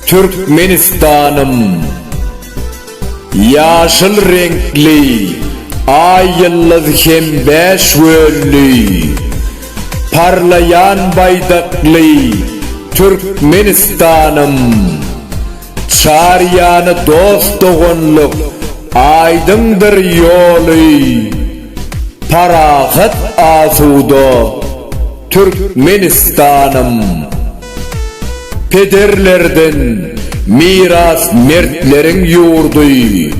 Türkmenistanym! Ýaşyl reňkli Aý ýyldyz hem bäş gönli Parlaýan baýdakly Türkmenistanym! Çar ýany dost-doganlyk, aýdyňdyr ýoly, Parahat asuda Türkmenistanym. Pederlerden miras mertleriň ýurdy,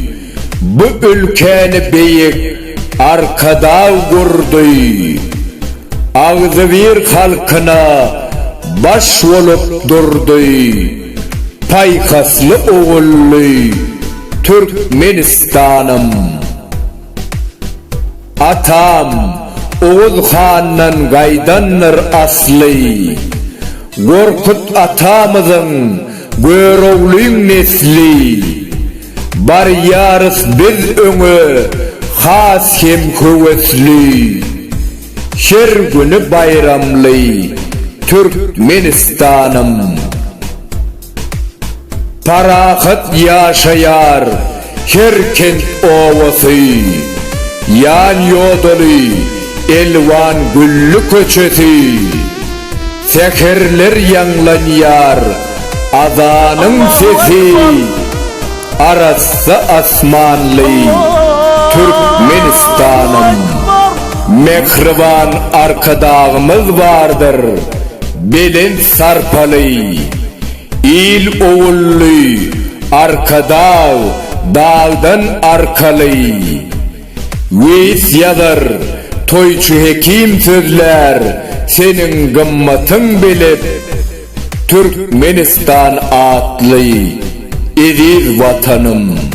Bu ülkäni beýik Arkadag gurdy. Agzybir halkyna baş bolup durdy. Paýhasly ogully Türkmenistanym! Atam Oguz handan gaýdandyr asly. Gorkut atamyzyň Göroglyň nesli. Barýarys biz öňe has hem höwesli. Her güni baýramly Türkmenistanym. Parahat ýaşaýar her kent obasy, Ýan-ýodaly elwan gülli köçesi. Säherler ýaňlanýar azanyň sesi Arassa asmanly Türkmenistanym Mähriban Arkadagymyz bardyr Belent sarpaly Il ogully Arkadag dagdan arkaly. Weýis ýazar, toýçy hekim sözlär, Seniň gymmatyň belet, Türkmenistan atly eziz Watanym!